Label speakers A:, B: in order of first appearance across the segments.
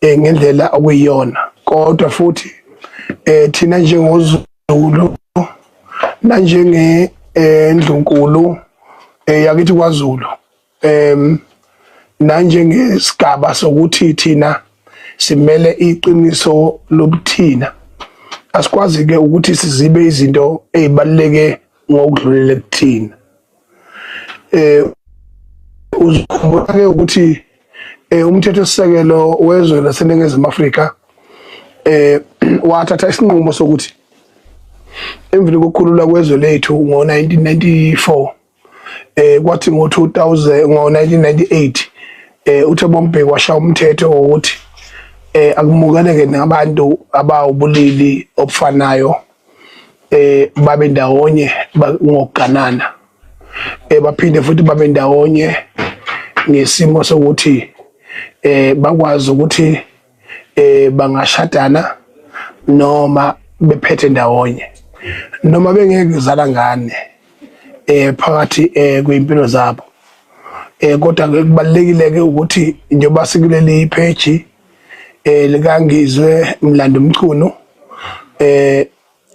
A: eh ngendlela okuyiyona kodwa futhi eh thina njengozulu nanjenge eh, ndlunkulu eh, yakithi kwaZulu em nanjengesigaba sokuthi thina simele iqiniso lobuthina asikwazi ke ukuthi sizibe izinto ezibaluleke ngokudlulele kuthina eh uzikhumbula ke ukuthi eh umthetho sisekelo wezwe laseningizimu Afrika eh wathatha isinqumo sokuthi emvini kokukhulula kwezwe lethu ngo-1994 eh kwathi ngo-2000 ngo-1998 eh uthe bombheki washa umthetho wokuthi eh akumukeleke nabantu abawubulili obufanayo eh babe ndawonye ngokuganana eh baphinde futhi babe ndawonye ngesimo sokuthi eh bakwazi ukuthi eh bangashadana noma bephethe ndawonye noma bengeke kuzala ngane eh phakathi eh kwimpilo zabo eh kodwa kubalekile ke ukuthi njengoba sikuleli page eh likangizwe mlando mchunu eh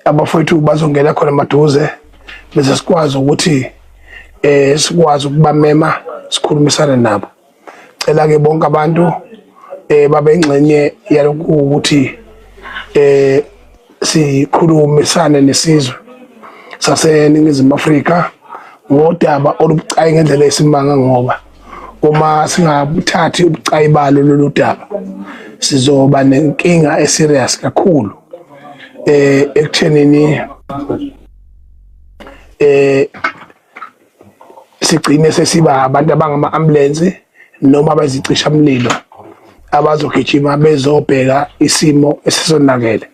A: abafowethu bazongena khona maduze bese sikwazi ukuthi eh sikwazi ukubamema sikhulumisane nabo cela ke bonke abantu eh babe ingxenye yalokhu ukuthi eh sikhulumisane nesizwe saseningizimu Afrika ngodaba olubucayi ngendlela esimanga ngoba uma singabuthathi ubucayi balo lolu daba sizoba nenkinga eserious kakhulu eh ekuthenini eh sigcine sesiba abantu abangama ambulance noma abazicisha umlilo abazogijima bezobheka isimo esisonakele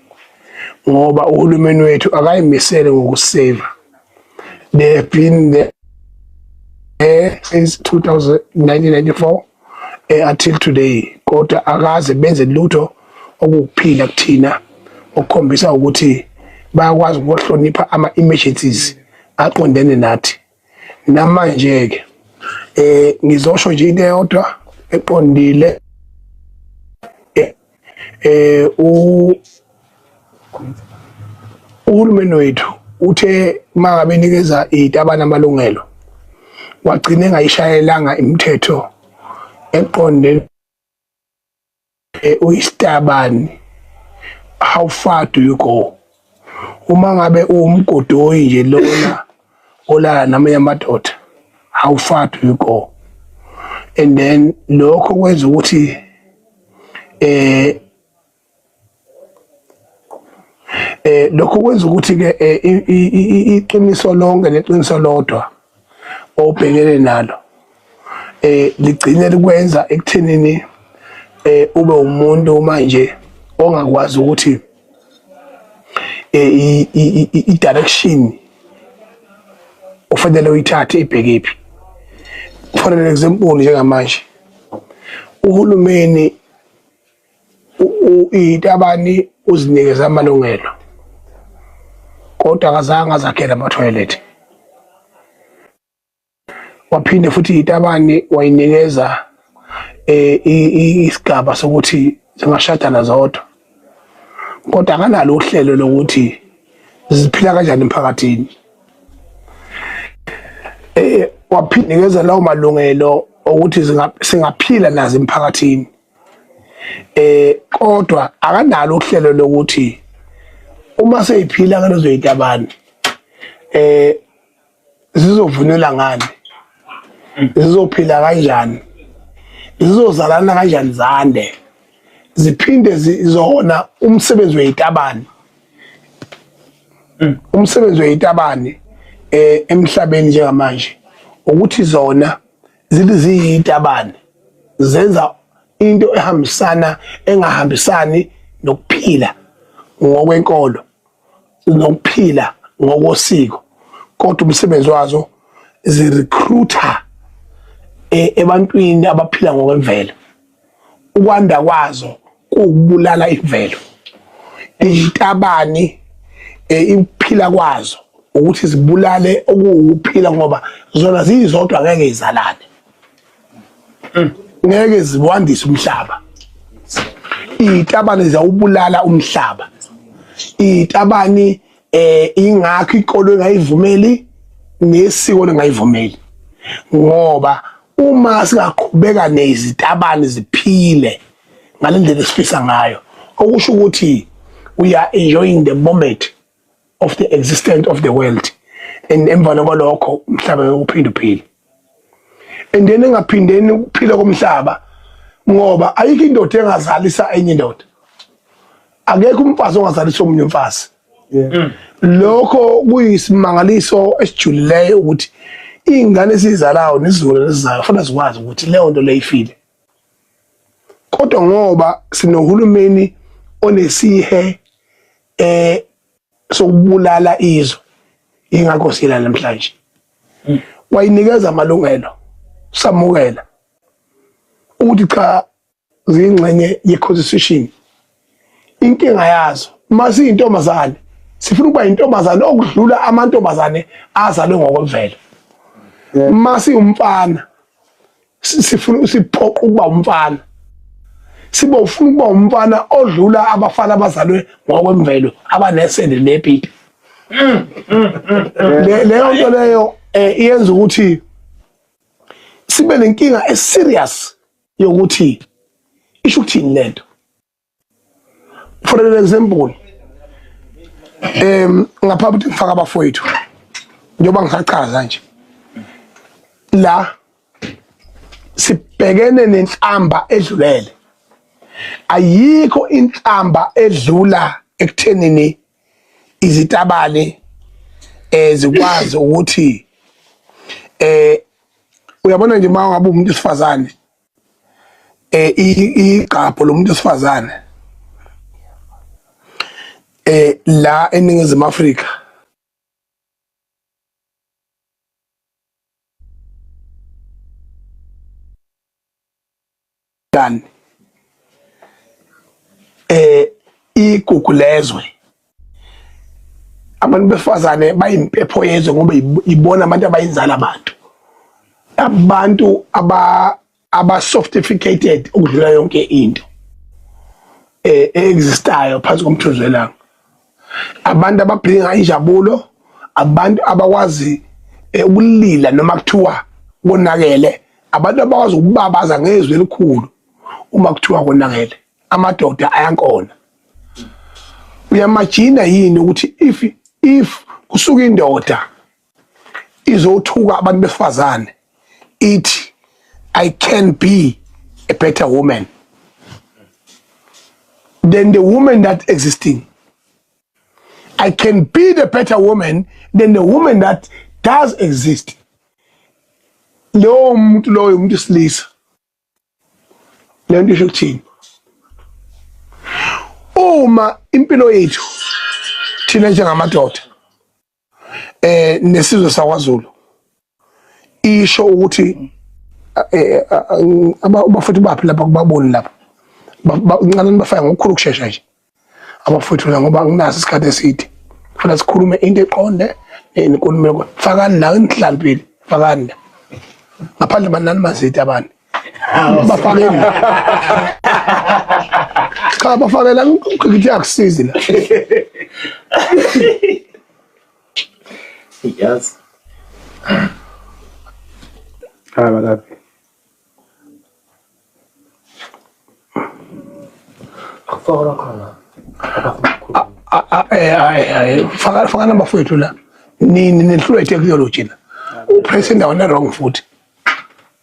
A: ngoba uhulumeni wethu akayimisele ngokusave bephinde eh since 1994 eh until today kodwa akaze benze lutho okuphila kuthina okukhombisa ukuthi bayakwazi ukuhlonipha ama emergencies aqondene nathi namanje ke eh ngizosho nje into eyodwa eqondile eh u uhulumeni wethu uthe mangabe nikeza itabana amalungelo wagcine ngayishayelanga imithetho eqonde eh, uyisitabani how far do you go uma ngabe uwumgodoyi nje lona olala namanye amadoda how far do you go and then lokho kwenza ukuthi eh eh lokho kwenza ukuthi ke eh, iqiniso lonke neqiniso lodwa obhekene nalo eh ligcine likwenza ekuthenini eh ube umuntu manje ongakwazi ukuthi eh i direction ufanele uyithathe ibheke phi for an example njengamanje uhulumeni itabani uzinikeza amalungelo kodwa akazange azakhele amathoyilethi waphinde futhi itabani wayinikeza eh, isigaba sokuthi zingashadana zodwa kodwa akanalo uhlelo lokuthi ziphila kanjani emphakathini eh waphindekeza lawo malungelo okuthi singaphila nazo emphakathini eh kodwa akanalo uhlelo lokuthi uma seyiphila ngalezo yitabani eh zizovunula ngani zizophila kanjani zizozalana kanjani zande ziphinde zizona umsebenzi weyitabani mm. umsebenzi weyitabani eh emhlabeni njengamanje ukuthi zona zithi ziyitabane zenza into ehambisana engahambisani nokuphila ngokwenkolo nokuphila ngokosiko kodwa umsebenzi wazo zirecruiter e, ebantwini abaphila ngokwemvelo ukwanda kwazo kuwukubulala imvelo izitabani eh, ikuphila kwazo ukuthi zibulale okuwukuphila ngoba zona ziyizodwa ngeke izalane mm. ngeke ziwandise umhlaba izitabani ziyawubulala umhlaba izitabani eh ingakho ikolo engayivumeli nesiko lengayivumeli ngoba uma singaqhubeka nezitabani ziphile ngalendlela esifisa ngayo okusho ukuthi we are enjoying the moment of the existence of the world and emvana kwalokho umhlaba uyophinde uphile and then engaphindeni ukuphila komhlaba ngoba ayikho indoda engazalisa enye indoda akekho umfazi ongazalisa omunye umfazi Mm. lokho kuyisimangaliso esijulileyo ukuthi iy'ngane esiyizalayo nesizukulwane esizayo kufanele zikwazi ukuthi leyo nto leyo ifile kodwa ngoba sinohulumeni onesihe eh sokubulala izwe ingakho sila namhlanje mm. wayinikeza amalungelo samukela ukuthi cha ziyingxenye ye-constitution inkinga yazo uma siyintombazane sifuna ukuba yintombazane okudlula amantombazane azalwe ngokwemvelo uma siwumfana sifuna siphoqa ukuba umfana sibe ufuna ukuba umfana odlula abafana abazalwe ngokwemvelo abanesende nepipi mm, mm, mm, leyo nto leyo um iyenza ukuthi sibe nenkinga eserious yokuthi isho ukuthini lento for an example em ngaphambi ukuthi ngifaka abafowethu njengoba ngisachaza nje la sibhekene nenhlamba edlulele ayikho inhlamba edlula ekuthenini izitabane eh zikwazi ukuthi eh uyabona nje uma ngabe umuntu sifazane eh igqapho lomuntu sifazane eh la eningizimu Afrika Dan eh igugu lezwe abantu befazane bayimpepho yezwe ngoba ibona abantu abayinzala abantu abantu aba aba sophisticated ukudlula yonke into eh existayo phansi komthunzi welanga abantu ababhinga injabulo abantu abakwazi eh, ukulila noma kuthiwa konakele abantu abakwazi ukubabaza ngezwi elikhulu uma kuthiwa konakele amadoda ayankona uyamajina yini ukuthi if if kusuka indoda izothuka abantu besifazane ithi i can be a better woman than the woman that existing i can be the better woman than the woman that does exist lowo muntu loyo umuntu isilisa le nto isho ukuthini uma impilo yethu thina njengamadoda eh nesizwe sakwaZulu isho ukuthi eh, eh, abafethu baphi lapha kubaboni lapha ncanani bafaya ngokukhulu ukushesha nje abafethu la ngoba nginaso isikhathi eside funa sikhulume into eqonde nenkulumo faka la enhlambili fakanda ngaphandle banani mazidi abantu bafakeni cha bafakela ngithi akusizi la
B: yes
A: Hi, what up?
B: Fora khona.
A: Faka faka number fethu la. Nini nehlulwe technology la. Upress indawo ne wrong futhi.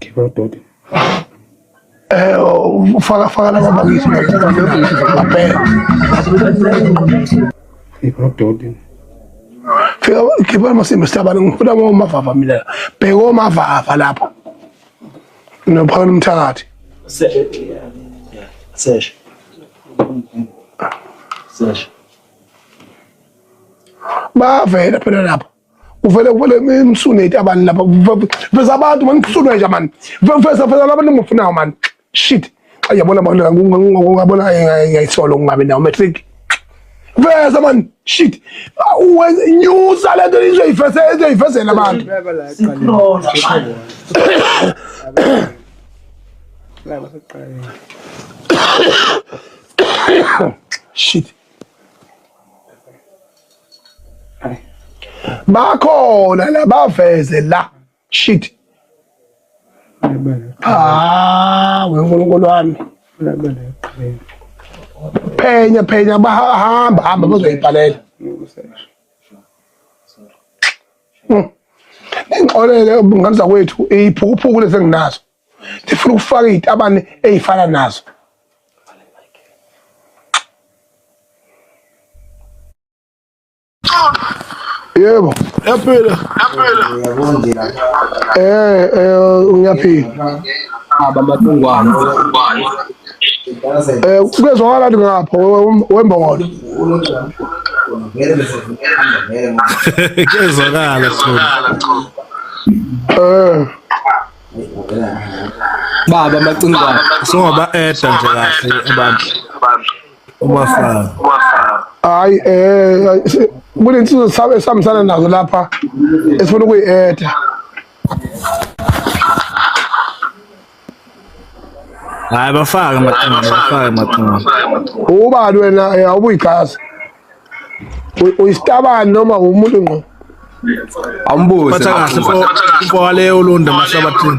C: Kibododi. Eh
A: ufaka faka laba bakithi ngapela. Kibododi. Fika khipha amasimba sihlabane ngifuna ngomavava mina. Bheka omavava lapho. Nopha umthakathi.
B: Seshe.
A: Seshe. Seshe. Bavela phela lapha. uvele uvele imsune abantu lapha veza abantu mani kusunwe nje mani veza veza abantu engimufunayo mani shit xa yabona abantu ngabona ngayisolo ngingabi nawo matric veza man shit nyusa le nto izoyifesela abantu shit bakhona labaveze la Shit. Ah, we uNkulunkulu wami. Phenya phenya bahamba hamba bazoyibhalela. Hmm. Ngixolele ngane zakwethu iphukuphuku lezi enginazo. Ngifuna ukufaka izitabane ezifana nazo. Yebo, yaphila. Yaphila. Uyabondela. Eh, eh ngiyaphila. Aba matungwana. Eh kuyezwakala ukuthi ngapha wembongolo.
D: Kuyezwakala Chulu. Eh.
B: Baba macingwane. Songoba eda
D: nje kahle abantu. Uma fana.
A: Hayi eh kunensizwe sabe esihambisana nazo lapha esifuna ukuyi-etha.
D: Hayi bafake amaqhinga, bafake amaqhinga.
A: Ubani wena eh, awubuyigazi? Uyisitabani noma umuntu ngqo?
B: Awumbuze. Phatha kahle
D: mfo waleyo ulunda mahlabathini.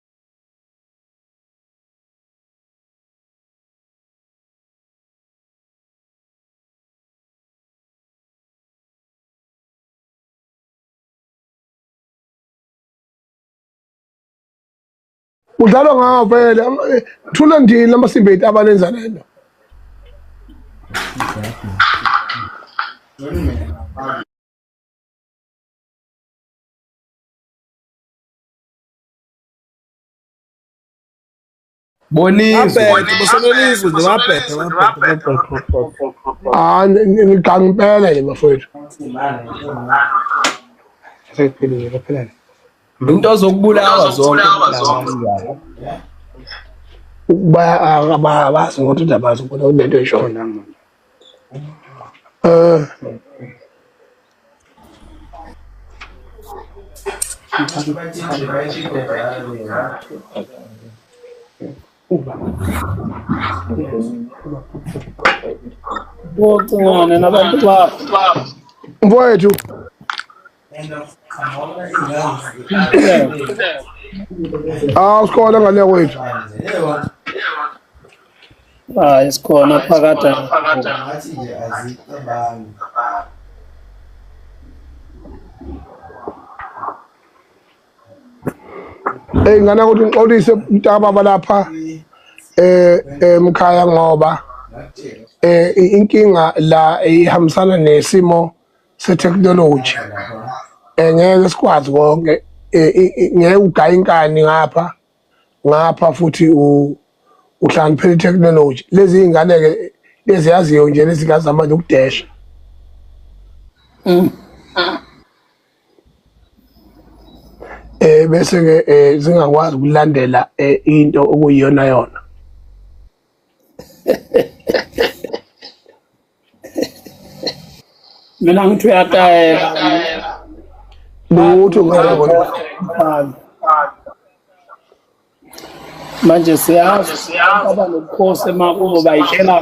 A: udlalwa ngawo vele thula ndini amasimba ethu abanenza lento
D: ngidangipela
A: nje bafowethu
C: into
B: ozokubulawa zonke
A: abazi ngokuthi ndabazi ukuthi kunento eshona um
E: Bocingane nabantu babo. Mfowethu.
A: Ah, usikole ngale kwethu.
E: hayi
A: sikhona phakade ngathi nje azicabangi Hey ngana ukuthi ngixolise mntakababa lapha eh emkhaya eh, ngoba eh inkinga la ihambisana nesimo setechnology eh ngeke sikwazi konke eh, ngeke ugaya inkani ngapha ngapha futhi uhlaniphela itechnology lezi ingane-ke lezi yaziyo nje lezi ngazama nje ukudesha mm. eh bese ke eh, zingakwazi ukulandela eh, into okuyiyona yona
E: mina ngithi uyatayela lutho
A: ngabona
E: manje siyazi aba nobukhosi emakubo bayitshela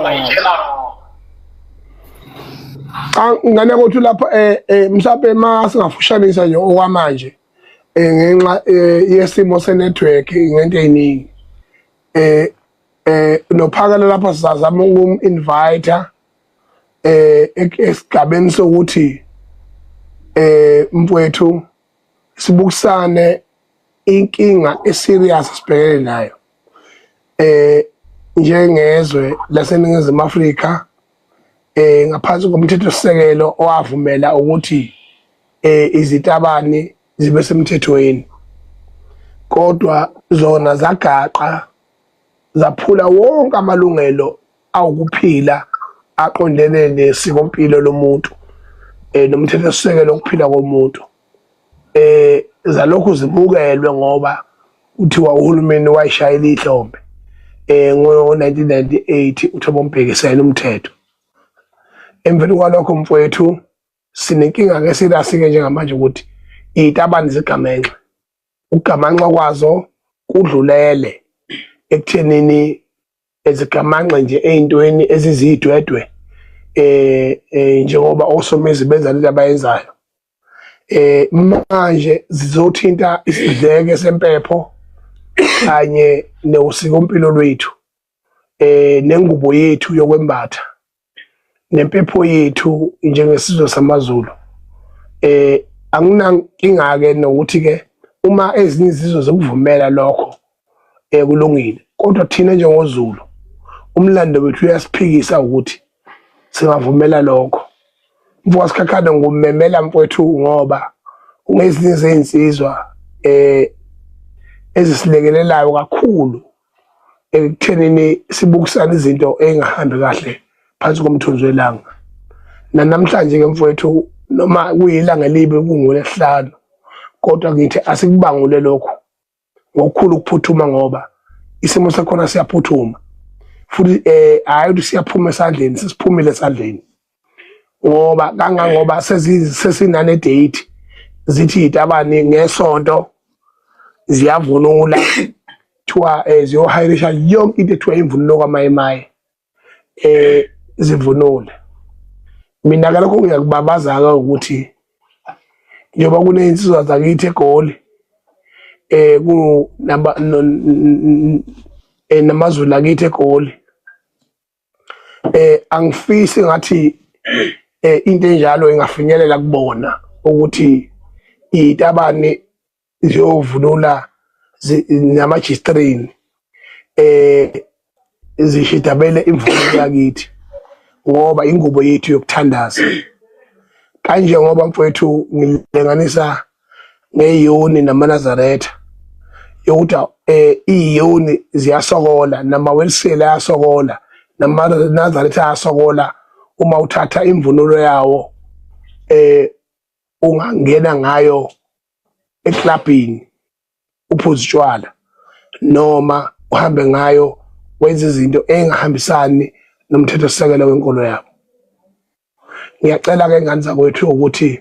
A: cha ngane kothi lapho eh, eh mhlawumbe ma singafushanisa nje okwamanje eh, ngenxa eh, yesimo senetwork ngento eziningi eh eh nophakela lapha sizazama ukum invite eh esigabeni sokuthi eh mfowethu sibukisane inkinga eserious sibhekene nayo eh njengezwe laseningizimu Afrika eh ngaphansi komthetho sisekelo owavumela ukuthi eh izitabani zibe semthethweni kodwa zona zagaqa zaphula wonke amalungelo awukuphila aqondene nesikompilo lomuntu eh nomthetho esisekelo ukuphila komuntu eh zalokhu zimukelwe ngoba kuthiwa uhulumeni wayishayela ihlombe eh ngo-1998 uThabo Mbheki sayena umthetho emveni kwalokho mfowethu sinenkinga-ke sirasike njengamanje ukuthi iy'tabane zigamenxe Ukugamanxa kwazo kudlulele ekuthenini ezigamanxe nje ey'ntweni eziziyidwedwe eh, eh njengoba osomezi benza lento abayenzayo eh manje zizothinta isidleke sempepho kanye newusikompilo lwethu eh nengubo yethu yokwembatha nempepho yethu njengesizwe samaZulu eh anginankinga ke nokuthi ke uma ezinye izizwe zokuvumela lokho eh kulungile kodwa thina njengoZulu umlando wethu uyasiphikisa ukuthi singavumela lokho mfoka sikhakhane ngumemela mfowethu ngoba ungezinye zezinsizwa eh ezisilekelelayo kakhulu ekuthenini sibukisana izinto engahambi kahle phansi komthunzi welanga nanamhlanje ke mfowethu noma kuyilanga elibi kungolesihlanu kodwa ngithi asikubangule lokhu ngokukhulu ukuphuthuma ngoba isimo sakhona siyaphuthuma futhi eh hayi ukuthi siyaphuma esandleni sisiphumile esandleni ngoba kangangoba sesinane date zithi yitabani ngesonto ziyavunula kuthiwa eh, ziyohayirisha yonke into ethiwa imvunulo kwamayemaye eh zivunule mina ke lokho ngiyakubabazaka ukuthi njengoba kunezinsizwa zakithi egoli eh ku naba eh, namazulu akithi egoli eh angifisi ngathi eh into enjalo ingafinyelela kubona ukuthi itabani ziyovunula namajistrini eh zishidabele imvume yakithi ngoba ingubo yethu yokuthandaza kanje ngoba mfowethu ngilenganisa ngeyoni namanazaretha yokuthi eh iyoni ziyasokola namawelsile ayasokola namanazaretha ayasokola uma uthatha imvunulo yawo eh ungangena ngayo eklabhini uphuza utshwala noma uhambe ngayo wenza izinto engahambisani nomthetho sisekelo wenkolo yabo ngiyacela ke ngane zakwethu ukuthi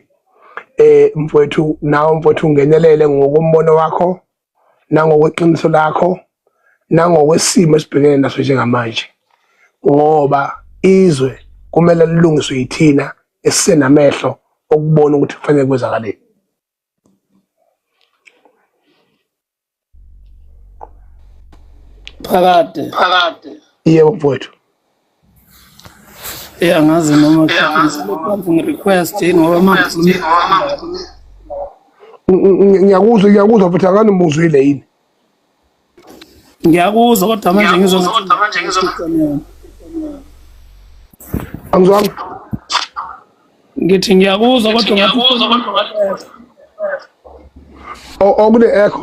A: eh mfowethu nawe mfowethu ungenelele ngokombono wakho nangokweqiniso lakho nangokwesimo esibhekene naso njengamanje ngoba izwe kumele lilungiswe yithina esisenamehlo okubona ukuthi kufanele kwenzakaleni
E: phakade phakade yebo
A: mfowethu
E: ya ngazi noma ngizophansi ngi-request yini ngoba manje
A: ngiyakuzwa ngiyakuzwa futhi akani muzwile yini
E: ngiyakuzwa kodwa manje ngizozwa angizwanga ngithi ngiyakuzwa kodwa ngiyakuzwa kodwa
A: okune echo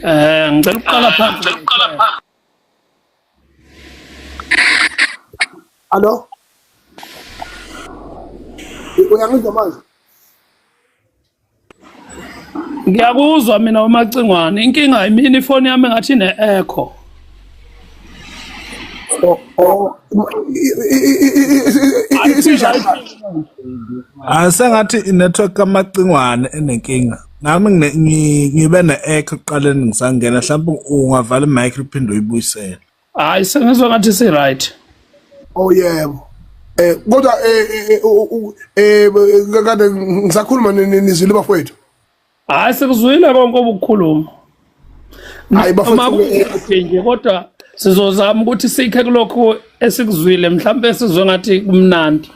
A: eh
E: ngicela ukuqala eh, phansi ngicela ukuqala phansi
A: Allo uyangizwa manje
E: ngiyakuzwa mina umacingwane inkinga imini ifoni yami ngathi ne-echo
D: asengathi inetwork kamacingwane enenkinga nami ngibe ne-echo kuqaleni ngisangena mhlawumbe ungavala imic uphinde uyibuyisele hayi
A: sengizwa
E: ngathi si
D: right
A: oh
D: yebo
A: eh kodwa eh, eh, eh, eh kade ngisakhuluma nizwile bafowethu hayi
E: sikuzwile konke obukhuluma
A: hayi bafowethu
E: nje
A: kodwa
E: sizozama ukuthi sikhe kulokho esikuzwile mhlawumbe sizwe ngathi kumnandi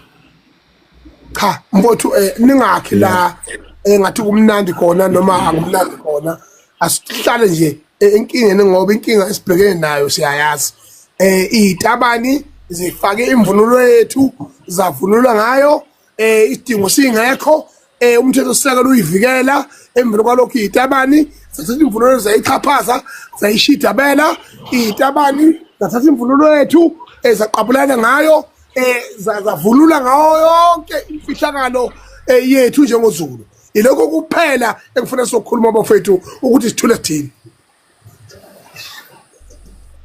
A: cha mfowethu um ningakhi la um ngathi kumnandi khona noma angumnandi khona asihlale nje enkingeni ngoba inkinga esibhekene nayo siyayazi eh izitabani zifake imvunulo yethu zavunulwa ngayo eh isidingo singekho eh umthetho sisekelo uyivikela emveni kwalokho iyitabani zathatha imvunulo zayixhaphaza zayishidabela iyitabani zathatha imvunulo yethu ezaqabulana eh, ngayo eh zavulula ngayo yonke imfihlakalo eh, yethu njengozulu ilokho kuphela engifuna sokukhuluma abafethu ukuthi sithule sithini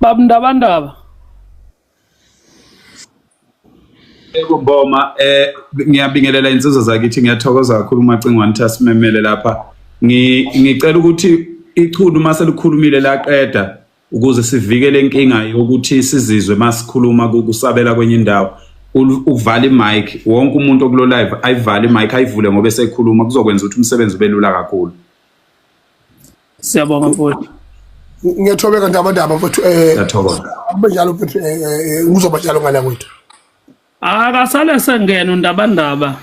E: babundabandaba
F: Yebo Mboma eh ngiyabingelela insizwa zakithi ngiyathokoza kakhulu umacingwane ukuthi asimemele lapha ngicela ukuthi ichunu uma selikhulumile laqeda ukuze sivikele inkinga yokuthi sizizwe masikhuluma kusabela kwenye indawo uvala imic wonke umuntu okulo live ayivale imic ayivule ngoba esekhuluma kuzokwenza ukuthi umsebenzi ube lula kakhulu Siyabonga
E: mfowethu. Ngiyathobeka
A: ndaba ndaba mfowethu eh. Ngiyathokoza.
F: Abe njalo mfowethu
A: eh, eh, eh uzoba njalo ngala kwethu. Akasale
E: sengena undaba ndaba.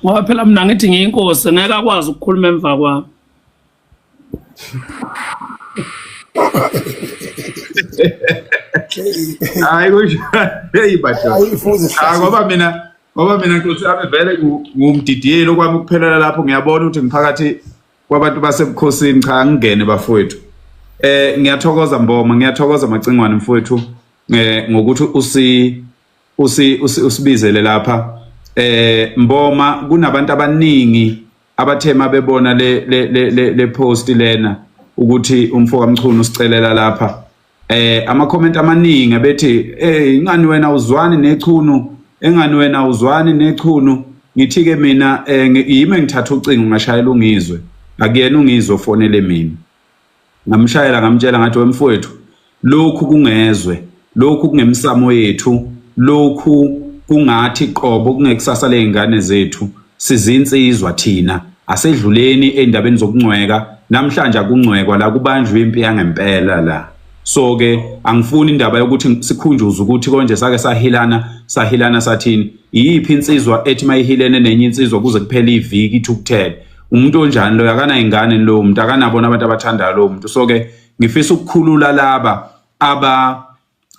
E: Ngoba phela mina ngithi ngiyinkosi ngeke akwazi ukukhuluma emva kwami.
F: Hayi kusho hey bajo. Hayi ngoba
A: mina
F: ngoba mina nkosi yami vele ngumdidiyeli okwami ukuphelela lapho ngiyabona ukuthi ngiphakathi kwabantu basebukhosini cha angingene bafowethu eh ngiyathokoza mboma ngiyathokoza macingwane mfowethu eh ngokuthi usi usi usibizele lapha eh mboma kunabantu abaningi abathema bebona le le le post lena ukuthi umfoka mchunu usicelela lapha eh ama comment amaningi abethi hey ingani wena uzwani nechunu engani wena uzwani nechunu ngithi ke mina eh, yimi engithatha ucingo ngashayela ungizwe akuyena ungizwe ofonele mina ngamshayela ngamtshela ngathi wemfowethu lokhu kungezwe lokhu kungemsamo yethu lokhu kungathi qobo kungekusasa lezingane zethu Sizinsizwa thina asedluleni endabeni zokungcweka namhlanje akungcwekwa la kubanjwe impi yangempela la so ke angifuni indaba yokuthi sikhunjuze ukuthi konje sake sahilana sahilana sathini iyiphi insizwa ethi mayihilene nenye insizwa kuze kuphele iviki ithukuthele umuntu onjani loyo akanayingane lowo muntu akanabona abantu abathandayo lowo muntu so ke ngifisa ukukhulula laba aba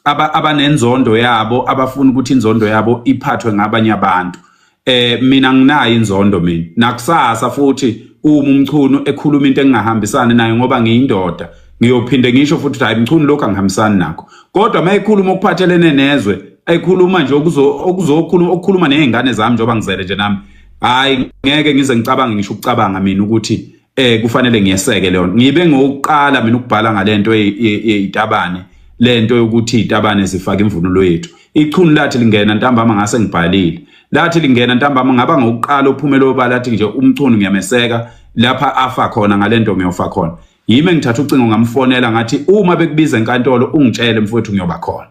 F: aba abanenzondo yabo abafuna ukuthi inzondo yabo iphathwe ngabanye abantu eh mina nginayo inzondo mina nakusasa futhi uma umchunu ekhuluma into engingahambisani nayo ngoba ngiyindoda ngiyophinde ngisho futhi ukuthi hayi mchunu lokho angihambisani nakho kodwa uma ekhuluma okuphathelene nezwe ekhuluma nje okuzokhuluma okukhuluma nezingane zami njengoba ngizele nje nami hayi ngeke ngize ngicabange ngisho ukucabanga mina ukuthi eh kufanele ngiyeseke leyo ngibe ngokuqala mina ukubhala ngalento eyitabane lento yokuthi itabane zifaka imvunulo yethu ichunu lathi lingena ntambama ngase ngibhalile lathi lingena ntambama ngaba ngokuqala uphumela obala lathi nje umchunu ngiyameseka lapha afa khona ngalento ngiyofa khona yime ngithatha ucingo ngamfonela ngathi uma bekubiza enkantolo ungitshele mfowethu ngiyoba khona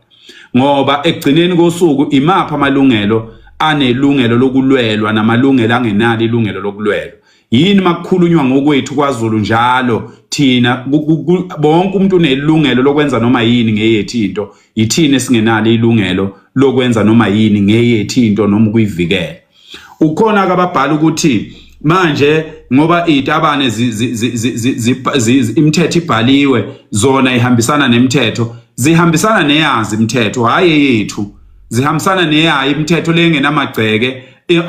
F: ngoba ekugcineni kosuku imapha amalungelo anelungelo lokulwelwa namalungelo angenalo ilungelo lokulwelwa yini makukhulunywa ngokwethu kwaZulu njalo thina bonke umuntu unelungelo lokwenza noma yini ngeyethi into yithini esingenalo ilungelo lokwenza noma yini ngeyethi into noma ukuyivikela ukhona kababhala ukuthi manje ngoba itabane imithetho ibhaliwe zona ihambisana nemithetho zihambisana neyazi imithetho hayi yethu zihambisana neyayi imithetho lengenamagceke Eh,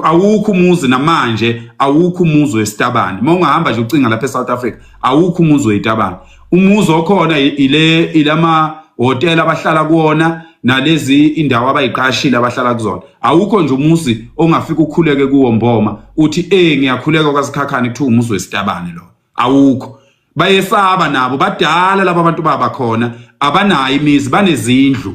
F: awukho umuzi namanje awukho umuzi wesitabane uma ungahamba nje ucinga lapha eSouth Africa awukho umuzi weyitabane umuzi okhona ile ilama hotel abahlala kuona nalezi indawo abayiqashile abahlala kuzona awukho nje umuzi ongafika ukhuleke kuwo mboma uthi eh ngiyakhuleka kwasikhakhane kuthiwa umuzi wesitabane lo awukho bayesaba nabo badala laba bantu baba khona abanayo imizi banezindlu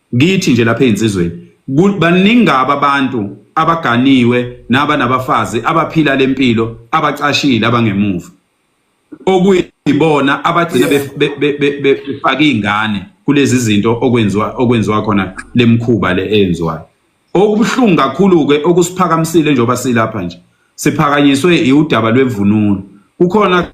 F: Ngithi nje lapha ezinsizweni baningi ngaba abantu abaganiwe naba nabafazi abaphila lempilo abacashile abangemuva okuyibona abagcina befaka izingane kulezi zinto okwenziwa okwenziwa khona lemkhuba le eyenziwayo Okubuhlungu kakhulu ke okusiphakamisile njengoba silapha nje siphakanyiswe iudaba lwemvunulo. Kukhona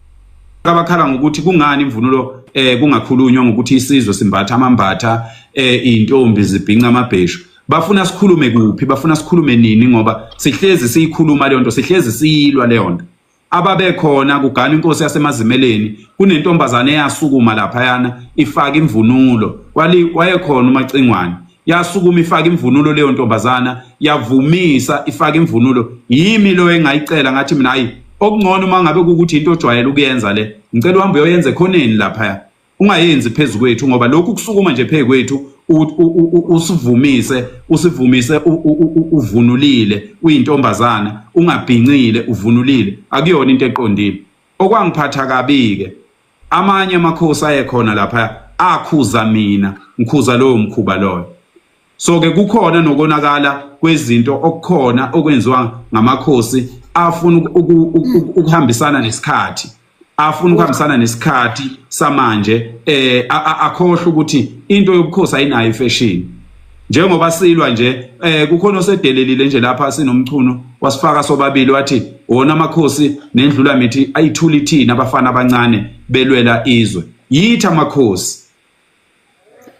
F: abakhala ngokuthi kungani imvunulo eh kungakhulunywa ngokuthi isizwe simbatha amambatha eh intombi zibhinca amabheshu. Bafuna sikhulume kuphi? Bafuna sikhulume nini ngoba sihlezi siyikhuluma leyo nto, sihlezi siyilwa leyo nto. ababekhona kugana inkosi yasemazimeleni kunentombazane eyasukuma laphayana ifaka imvunulo kwali wayekhona umacingwane yasukuma ifaka imvunulo leyo ntombazana yavumisa ifaka imvunulo yimi lo engayicela ngathi mina hayi okungcono uma ngabe kukuthi into ojwayele ukuyenza le ngicela uhambe uyoyenza ekhoneni laphaya ungayenzi phezu kwethu ngoba lokhu kusukuma nje phezu kwethu usivumise usivumise uvunulile uyintombazane ungabhincile uvunulile akuyona into eqondile okwangiphatha kabi-ke amanye amakhosi ayekhona lapha akhuza mina ngikhuza lowo mkhuba loyo so ke kukhona nokonakala kwezinto okukhona okwenziwa ngamakhosi afuna ukuhambisana nesikhathi afuna ukuhambisana nesikhathi samanje eh akhohle ukuthi into yobukhosi ayinayo ifashion njengoba silwa nje eh kukhona osedelelile nje lapha sinomchuno wasifaka sobabili wathi wona amakhosi nendlula mithi ayithuli thina abafana abancane belwela izwe yitha amakhosi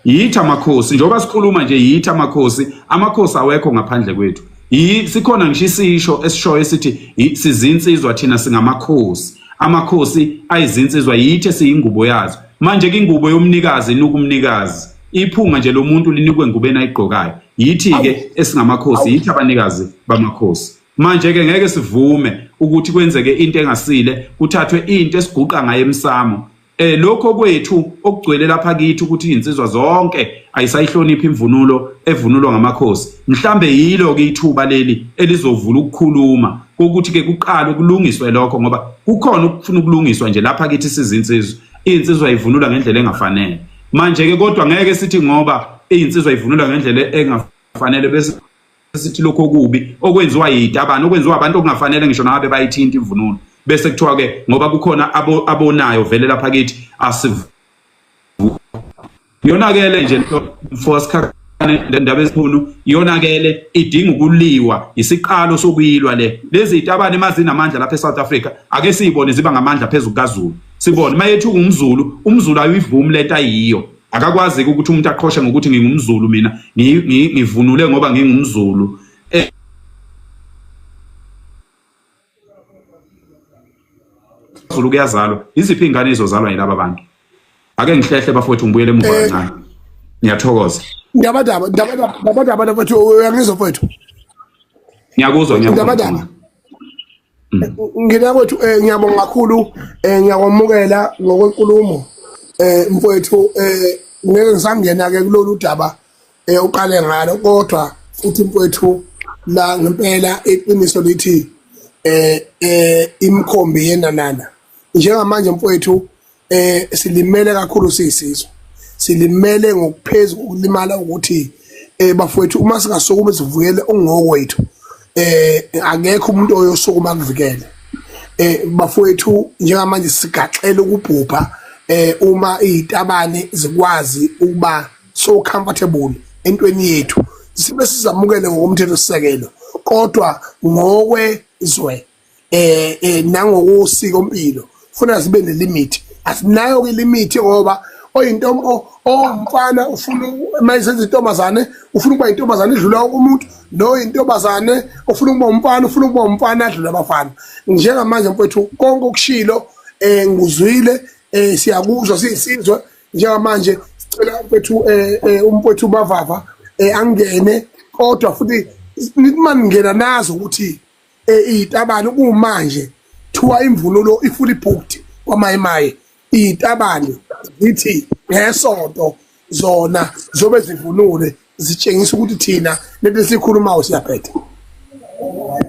F: yithi amakhosi njengoba sikhuluma nje yithi amakhosi amakhosi awekho ngaphandle kwethu sikhona ngisho isisho esishoyo esithi sizinsizwa thina singamakhosi amakhosi ayizinsizwa yithe siyingubo yazo manje ke ingubo yomnikazi inuka umnikazi iphunga nje lomuntu linikwe engubeni ayigqokayo yithi ke esingamakhosi yithi abanikazi bamakhosi manje ke ngeke sivume ukuthi kwenzeke into engasile kuthathwe into esiguqa ngayo emsamo eh lokho kwethu okugcwele lapha kithi ukuthi izinsizwa zonke ayisayihloniphi imvunulo evunulwa ngamakhosi mhlambe yilo ke ithuba leli elizovula ukukhuluma kokuthi ke kuqale kulungiswe lokho ngoba kukhona ukufuna ukulungiswa nje lapha kithi sizinsizwa izinsizwa ivunula ngendlela engafanele manje ke kodwa ngeke sithi ngoba izinsizwa ivunula ngendlela engafanele bese sithi lokho okubi okwenziwa yitabani okwenziwa abantu okungafanele ngisho nabe bayithinta imvunulo bese kuthiwa ke ngoba kukhona abonayo vele lapha kithi asivu yonakele nje mfosikha le ndaba esikhulu yonakele idinga ukuliwa isiqalo sokuyilwa le lezi zitabane mazinamandla lapha eSouth Africa ake siyibone ziba ngamandla phezulu kaZulu sibone mayethu umZulu umZulu ayivumi lento ayiyo akakwazi-ke ukuthi umuntu aqhoshe ngokuthi ngingumzulu mina ngivunule ngoba ngingumzulu eh, zulu kuyazalwa iziphi iy'ngane izozalwa yilaba bantu ake ngihlehle bafowethu ngibuyele emuva eh, kancane ngiyathokoza ndabadaba
A: ndabadaba ndabadaba bathi uyangizwa mfowethu
F: ngiyakuzwa ngiyakuzwa
A: Mm. ngina kwethu um eh, ngiyabonga kakhulu um ngiyakwamukela ngokwenkulumo um mfowethu um ngeke ngisangena-ke kulolu daba um uqale ngalo kodwa futhi mfowethu la ngempela iqiniso lithi um um imikhombi yenanana njengamanje mfowethu eh silimele kakhulu siyisizwe silimele ngokuphezulu ukulimala ukuthi eh bafowethu uma singasukuma sivukele ungokwethu eh akekho umuntu oyosukuma kuvikele eh bafowethu njengamanje sigaxela ukubhubha eh uma izitabane zikwazi ukuba so comfortable entweni yethu sibe sizamukele ngokomthetho sisekelo kodwa ngokwezwe eh eh nangokosiko mpilo funa zibe nelimit asinayo ke limit ngoba oyintombo owumfana ufuna mayisenza intombazane ufuna ukuba intombazane idlula umuntu no intombazane ufuna ukuba umfana ufuna ukuba umfana adlula abafana njengamanje mfethu konke okushilo eh nguzwile eh siyakuzwa siyisizwe njengamanje sicela mfethu eh, eh umfethu bavava eh angene kodwa futhi nitmani ngena nazo ukuthi iyitabane kumanje thiwa imvunulo ifuli booked kwamayimaye iyitabane zithi ngesonto zona zobe zivunule zitshengisa ukuthi thina lento esikhulumayo siyaphetha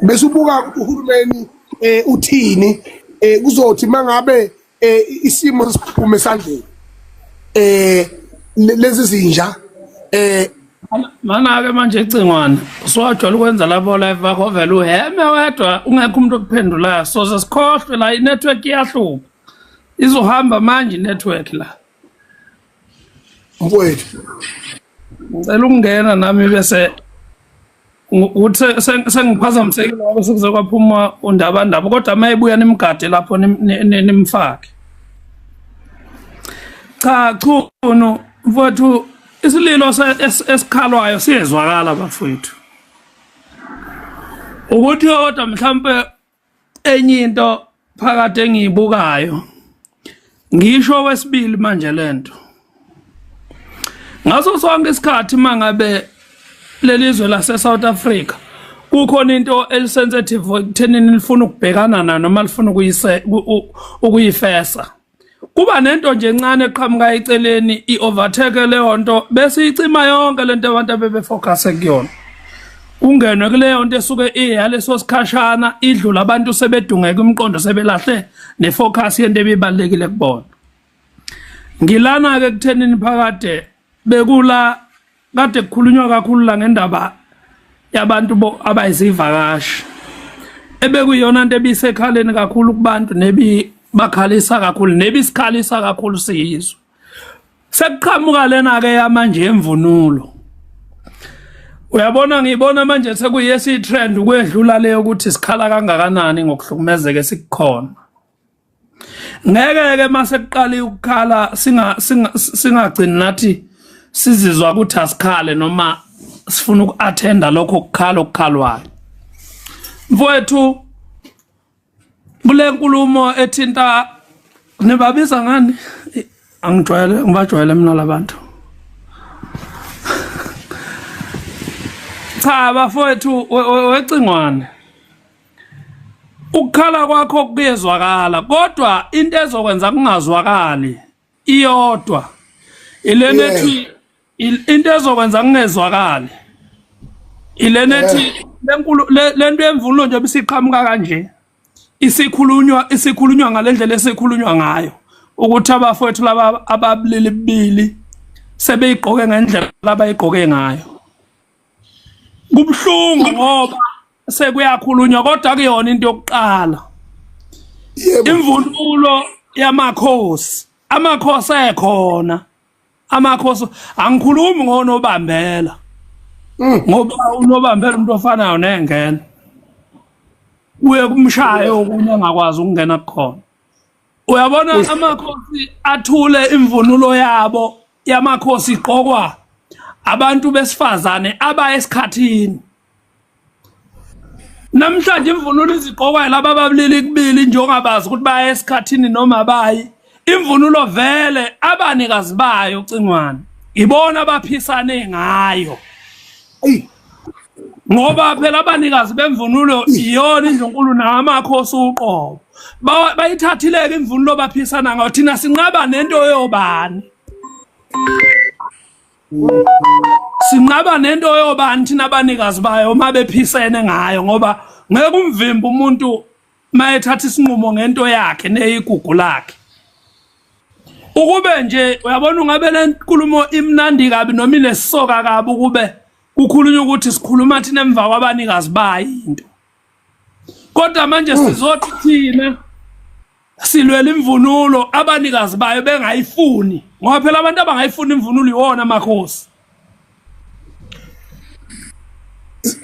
A: bese ubuka uhulumeni eh uthini eh kuzothi mangabe eh isimo siphume esandleni eh lezi zinja eh
E: Mana-ke manje icingwane usuwajwayela ukwenza labo live bakho vele uheme wedwa ungekho umuntu okuphendulayo so sesikhohlwe la inetwork iyahlupha izohamba manje inetwork la
A: mfowethu
E: ngicela ukungena nami bese uthe sengiphazamisekile ngoba sekuze kwaphuma undabandaba kodwa uma ebuya nimgade lapho nimfake cha chunu mfowethu isililo esikhalwayo siyezwakala bafowethu ukuthi kodwa mhlawumbe enye into phakathi engiyibukayo ngisho wesibili manje lento ngaso sonke isikhathi mangabe lelizwe lase South Africa kukhona into elisensitive ekuthenini lifuna ukubhekana na noma lifuna ukuyise ukuyifesa kuba nento nje encane eqhamuka eceleni i-overtake leyo nto bese icima yonke le nto abantu abebefocuse kuyona kungenwe kuleyo nto esuke iyaleso sikhashana idlula abantu sebedungeka umqondo sebelahle nefocus yento ebibalekile kubona ngilana ke kuthenini phakade bekula kade kukhulunywa kakhulu la ngendaba yabantu abayizivakashi ebekuyona into ebisekhaleni kakhulu kubantu nebi bakhalisa kakhulu nebi sikhalisa kakhulu siyizwe sekuqhamuka lena ke yamanje emvunulo uyabona ngibona manje sekuyesi trend ukwedlula leyo ukuthi sikhala kangakanani ngokuhlukumezeke sikukhona ngeke ke mase kuqali ukukhala singa singagcini nathi sizizwa ukuthi asikhale noma sifuna ukuattenda lokho kukhala okukhalwayo mfowethu kule nkulumo ethinta nibabiza ngani angijwayele ngibajwayele mina labantu cha bafowethu wecingwane ukukhala kwakho kuyezwakala kodwa into ezokwenza kungazwakali iyodwa ilena ethi into ezokwenza kungezwakali ilena ethi lenkulu lento yemvunulo nje bisiqhamuka kanje isikhulunywa isikhulunywa ngalendlela esikhulunywa ngayo ukuthi abafowethu laba ababulili bibili sebeyigqoke ngendlela abayigqoke ngayo kubuhlungu ngoba sekuyakhulunywa kodwa kuyona into yokuqala imvunulo yamakhosi amakhosi ekhona amakhosi angikhulumi ngonobambela mm. ngoba unobambela umuntu ofanayo nengena kuye kumshaye okunye angakwazi ukungena kukhona uyabona amakhosi athule imvunulo yabo yamakhosi iqokwa abantu besifazane abaye esikhathini Namhlanje imvunulo izigqokwa laba babulili kubili njengobabazi ukuthi baya esikhathini noma bayi imvunulo vele abanikazi bayo cingwane ibona abaphisane ngayo ngoba phela abanikazi bemvunulo iyona indlunkulu namakhosi uqobo bayithathileke imvunulo baphisana ngayo thina sinqaba nento yobani sinqaba nento yobani thina abanikazi bayo uma bephisene ngayo ngoba ngeke umvimba umuntu mayethatha isinqumo ngento yakhe neyigugu lakhe ukube nje uyabona ungabe le nkulumo imnandi kabi noma inesoka kabi ukube kukhulunywa ukuthi sikhuluma thina emva kwabanikazi bayo into kodwa manje hmm. sizothi thina silwela imvunulo abanikazi bayo bengayifuni ngoba phela abantu abangayifuni imvunulo iwona makhosi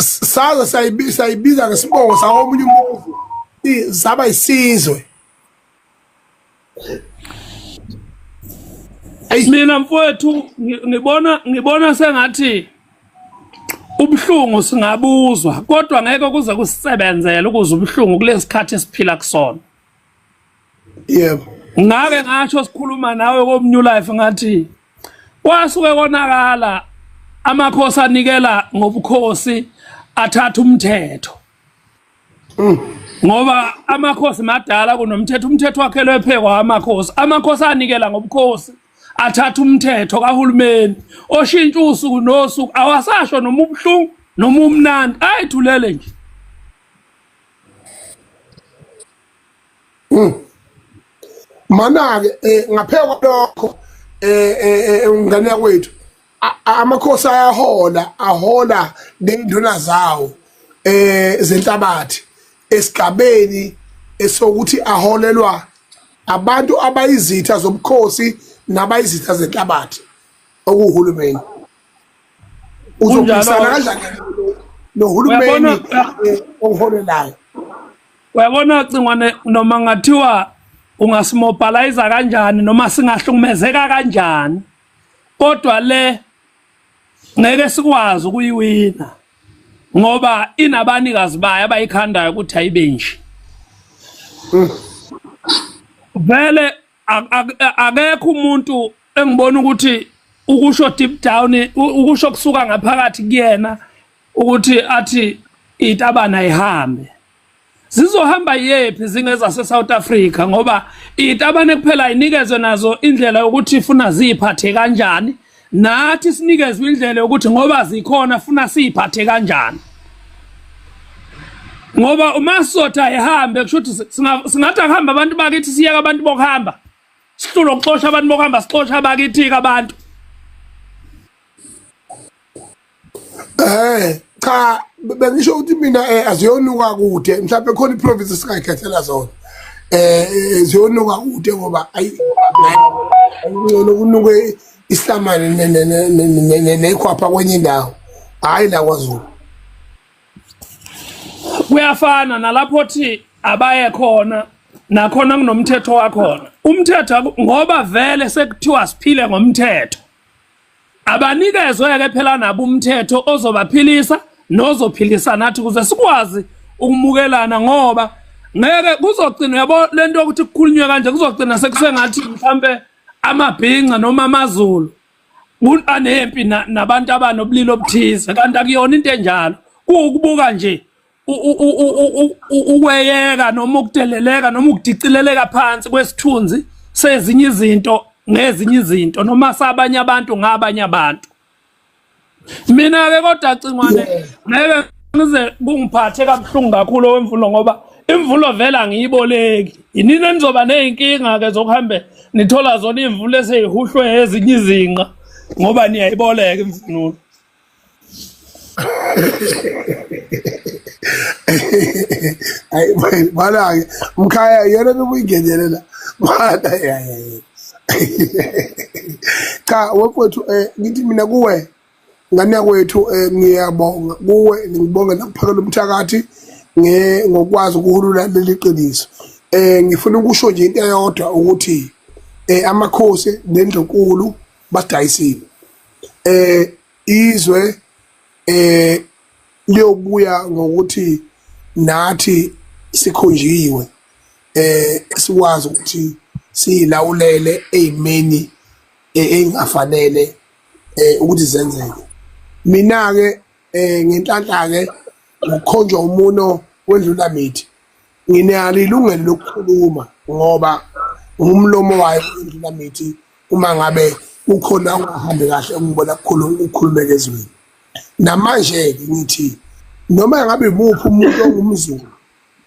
A: saze sayibiza ngesibongo sawomunye umuzi saba isizwe
E: mina mfowethu ngibona ngibona sengathi ubuhlungu singabuzwa kodwa ngeke kuze kusebenzele ukuze ubuhlungu kulesikhathi esiphila kusona
A: yebo ngake
E: ngasho sikhuluma nawe komnew life ngathi kwasuke konakala amakhosi anikela ngobukhosi athatha umthetho Mm. ngoba amakhosi madala kunomthetho umthetho wakhe lwephekwa amakhosi amakhosi anikela ngobukhosi athatha umthetho kahulumeni oshintsha usuku nosuku awasasho noma ubuhlungu noma umnandi ayithulele nje mm.
A: mana-ke um ngaphekwa lokho um um um ngane yakwethu amakhosi ayahola ahola nenduna zawo eh zenhlabathi esigabeni esokuthi aholelwa abantu abayizitha zobukhosi nabayizitha zenhlabathi okuwuhulumeni uzophikisana kanjani nohulumeni eh, oholelayo
E: uyabona cingwane noma ngathiwa ungasimobhalayiza kanjani noma singahlukumezeka kanjani kodwa le ngeke sikwazi ukuyiwina ngoba inabanikazi bayo abayikhandayo ukuthi ayibe nje vele ak- ak- akekho umuntu engibona ukuthi ukusho deep down u- ukusho kusuka ngaphakathi kuyena ukuthi athi itabana ihambe zizohamba yephi zingeza se South Africa ngoba itabane kuphela inikezwe nazo indlela yokuthi ifuna ziphathe kanjani nathi sinikezwe indlela yokuthi ngoba zikhona funa siphathe kanjani ngoba uma sotha ehambe kusho ukuthi singathi akuhamba abantu bakithi siyeka abantu bokuhamba sihlulo kuxosha abantu bokuhamba sixosha abakithi-ke abantu
A: Eh cha bengisho ukuthi mina eh, aziyonuka kude mhlawumbe khona iprovince singayikhethela zona eh, eh ziyonuka kude ngoba ayi ngcono kunuke isihlamane nekhwapha kwenye indawo hayi la kwaZulu
E: kuyafana nalapho thi abaye khona nakhona kunomthetho wakhona umthetho ngoba vele sekuthiwa siphile ngomthetho abanikezwe-ke phela nabo umthetho ozobaphilisa nozophilisa nathi ukuze sikwazi ukumukelana ngoba ngeke kuzogcina yabo lento yokuthi kukhulunywe kanje kuzogcina sekusengathi mhlambe amabhinca noma amazulu anempi nabantu abanobulili obuthize kanti akuyona into enjalo kuwukubuka nje ukweyeka noma ukudeleleka noma ukudicileleka phansi kwesithunzi sezinye izinto ngezinye izinto noma sabanye abantu ngabanye abantu mina ke kodwa cingwane ngeke ngize kungiphathe kabuhlungu kakhulu owemvulo ngoba imvulo vela ngiyiboleki yinini enizoba nezinkinga ke zokuhambe nithola zona imvulo eseyihuhlwe ezinye izinqa ngoba niyayiboleka imvunulo
A: ayi bana-ke mkhaya yena nobuyingenelela bana yayaye cha wekwethu um eh, ngithi mina kuwe ngane yakwethu um eh, ngiyabonga kuwe ngibonge nakuphakela umthakathi ngokwazi ukuhulula leli qiniso um ngifuna ukusho nje into eyodwa ukuthi um amakhosi nendlunkulu basidayisile eh izwe eh liyobuya ngokuthi nathi sikhonjiwe eh sikwazi ukuthi silawulele ezimeni eh, engafanele eh ukuthi zenzeke mina ke eh ngenhlanhla ke ngokukhonjwa umuno wedlula mithi nginalo ilungelo lokukhuluma ngoba ngumlomo wayo indlela mithi uma ngabe ukhona ungahambi kahle ungibona kukhuluma ukukhulumeka ezweni namanje ke ngithi noma ngabe muphi umuntu ongumzulu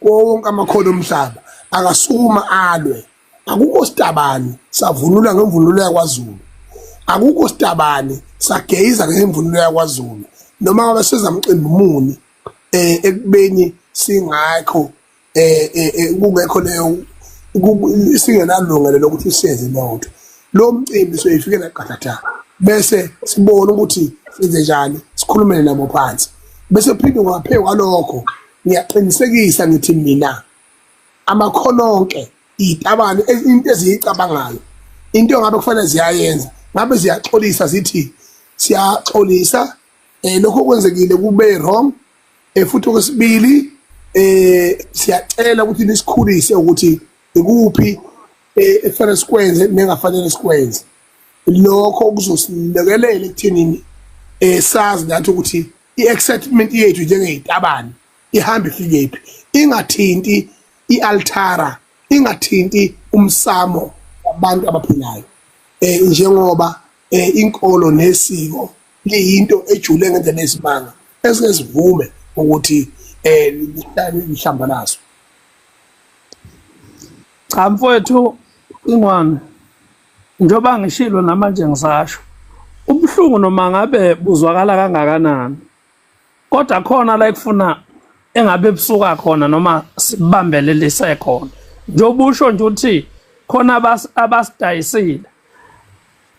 A: konke amakhono omhlaba akasukuma alwe akukho sitabani savunula ngemvunulo yakwaZulu akukho sitabani sageyiza ngemvunulo yakwaZulu noma ngabe sezamcimbi muni eh ekubeni singakho eh, eh, eh kungekho leyo singenalungelo lokuthi siyenze lento lo mcimbi soyifikela qathatha bese sibona ukuthi senze njani sikhulumele nabo phansi bese phinde ngaphe kwalokho ngiyaqinisekisa ngithi mina amakhono onke itabane into eziyicabangayo into ngabe kufanele ziyayenza ngabe ziyaxolisa zithi siyaxolisa eh lokho okwenzekile kube wrong eh futhi okwesibili eh siyacela ukuthi nisikhulise ukuthi ikuphi eh, ekufanele sikwenze nengafanele sikwenze lokho kuzosilekelela ekuthenini eh sazi nathi ukuthi i-excitement yethu njengeyitabane ihamba ifikephi ingathinti i-altara ingathinti umsamo wabantu abaphilayo eh njengoba eh inkolo nesiko liyinto ejule ngendlela eyisimanga esike sivume ukuthi eh lihlamba laso
E: cha mfowethu ingwane njengoba ngishilo namanje ngisasho ubuhlungu noma ngabe buzwakala kangakanani kodwa khona la ekufuna engabe ebusuka khona noma sibambelelise khona njengoba usho nje ukuthi khona abasidayisile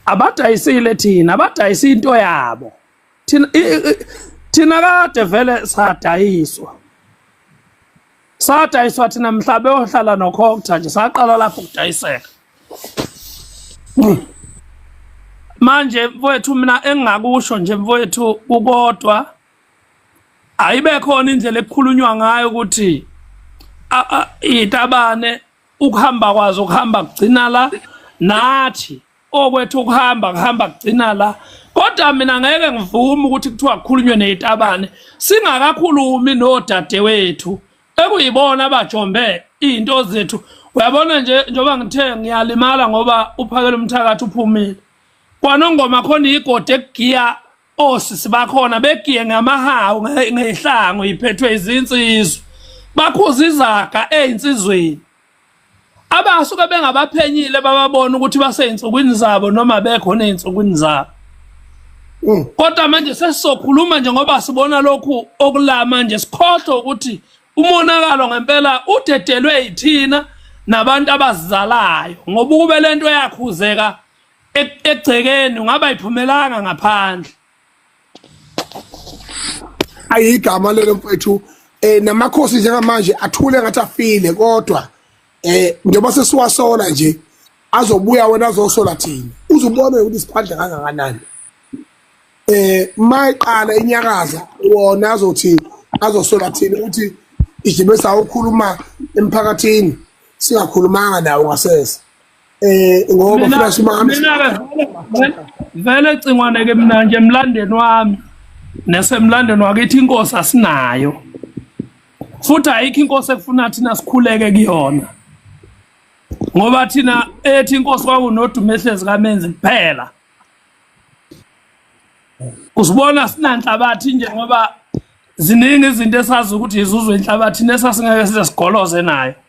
E: abadayisile thina abadayisa into yabo thina thina kade vele sadayiswa sadayiswa thina mhla beyohlala nokhokutha nje saqala lapho ukudayiseka manje mfowethu mina engingakusho nje mfowethu kukodwa ayibe khona indlela ekukhulunywa ngayo ukuthi itabane ukuhamba kwazo kuhamba kugcina la nathi okwethu ukuhamba kuhamba kugcina la kodwa mina ngeke ngivume ukuthi kuthiwa kukhulunywe neyitabane singakakhulumi nodadewethu ekuyibona abajombe izinto zethu uyabona nje njengoba ngithe ngiyalimala ngoba uphakela umthakathi uphumile kwanongoma khona igodi ekugiya osisi bakhona begiye ngamahawu ngehlango iphethwe izinsizwa bakhuza izaga ezinsizweni abasuke bengabaphenyile bababona ukuthi baseyinsukwini zabo noma bekhona eyinsukwini zabo mm. kodwa manje sesizokhuluma nje ngoba sibona lokhu okulama nje sikhohlwe ukuthi umonakalo ngempela udedelwe yithina nabantu abazizalayo ngoba ukube lento yakhuzeka egcekeni ungaba iphumelanga ngaphandle
A: ayigama lelo mfethu eh namakhosi njengamanje athule ngathi afile kodwa eh njengoba sesiwasola nje azobuya wena azosola thina uzubona ukuthi siphandla kangakanani eh mayiqala inyakaza wona azothi azosola thina ukuthi ijibe sawukhuluma emphakathini singakhulumanga nawo ngasese eh ngoba funa simame
E: vele cingwane ke mina nje emlandeni wami nesemlandeni wakithi inkosi asinayo futhi ayikho inkosi efuna thina sikhuleke kuyona ngoba thina ethi inkosi kwakunodumo ehlezi kamenzi kuphela usibona sinanhlabathi nje ngoba ziningi izinto esazi ukuthi izuzwe inhlabathi nesasingeke size sigoloze nayo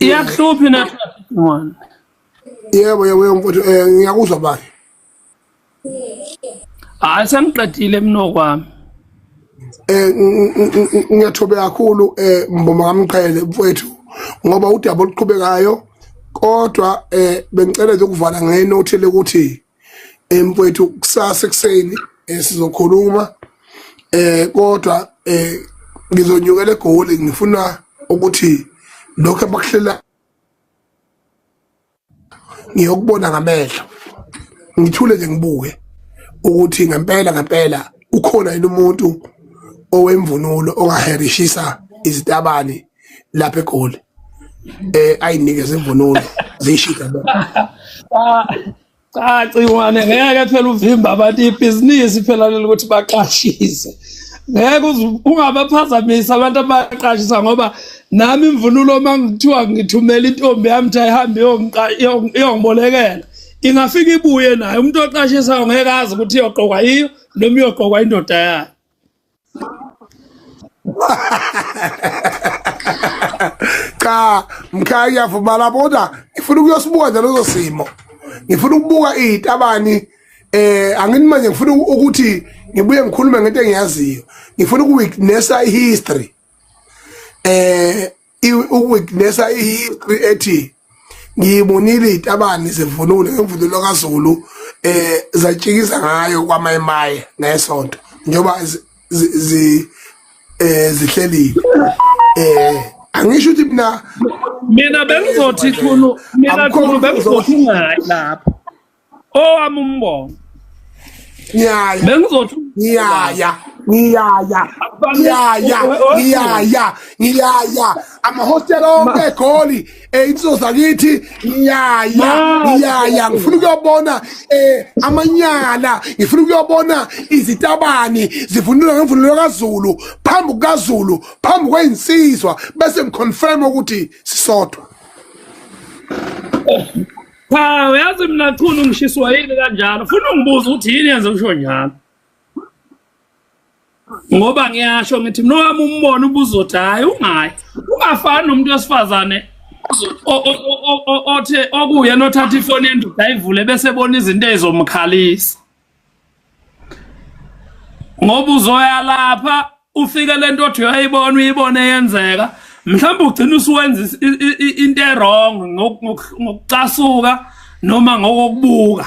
E: iyakuhluphi na yebo
A: yebo mfowethu eh ngiyakuzwa bani
E: hayi sengiqedile mnokwami eh
A: ngiyathobe kakhulu eh mboma kamqhele mfowethu ngoba udaba oluqhubekayo kodwa eh bengicela ukuvala ngenothile ukuthi emfowethu kusasa ekuseni eh, sizokhuluma eh kodwa eh ngizonyukela egoli ngifuna ukuthi lokho abakuhlela ngiyokubona ngamehlo ngithule nje ngibuke ukuthi ngempela ngempela ukhona yini umuntu owemvunulo ongaherishisa izitabani lapha egoli eh ayinikeze imvunulo ziyishida
E: cha ciwane ngeke phela uvimba abantu ibhizinisi phela leli ukuthi baqashise ngeke ungabaphazamisa abantu abaqashisa ngoba nami imvunulo uma ngithiwa ngithumela intombi yami ukuthi ayihambe iyongibolekela ingafika ibuye nayo umuntu oqashisayo ngeke azi ukuthi iyoqokwa yiyo noma iyoqokwa indoda yayo
A: cha mkhaya ngiyavumala kodwa ngifuna ukuyosibuka nje lezo simo ngifuna ukubuka izitabani eh angini manje ngifuna ukuthi ngibuye ngikhulume ngento engiyaziyo ngifuna ukuwitnessa ihistory eh ukuwitnessa ihistory ethi ngiyibonile itabani zivunule ngemvunulo kaZulu eh zatshikisa ngayo kwamayemaye ngesonto njengoba zi eh zihlelile eh angisho ukuthi mina mina
E: bengizothi khulu mina khulu bengizothi ngayi lapho owami umbono ngiyaya bengizothi ngiyaya ngiyaya
A: ngiyaya ngiyaya ngiyaya amahostela onke egoli eh, insizwa zakithi ngiyaya ngiyaya ngifuna ukuyobona eh, amanyala ngifuna ukuyobona izitabani zivunula ngemvunulo kazulu phambi kukazulu phambi kweyinsizwa bese ngiconfirm ukuthi sisodwa
E: Cha uyazi mina chunu ngishiswa yini kanjalo. Funa ungibuza ukuthi yini yenze usho njalo. Ngoba ngiyasho ngithi mina wami umbono ubuzothi hayi ungayi. Ungafani nomuntu wesifazane o- o- o- o- o- othe okuyena othatha ifoni yendoda ayivule bese ebona izinto ezomkhalisa. ngoba uzoya lapha ufike lento othi uyayibona uyibone yenzeka mhlawumbe ugcina usuwenza into erong ngokucasuka noma ngokokubuka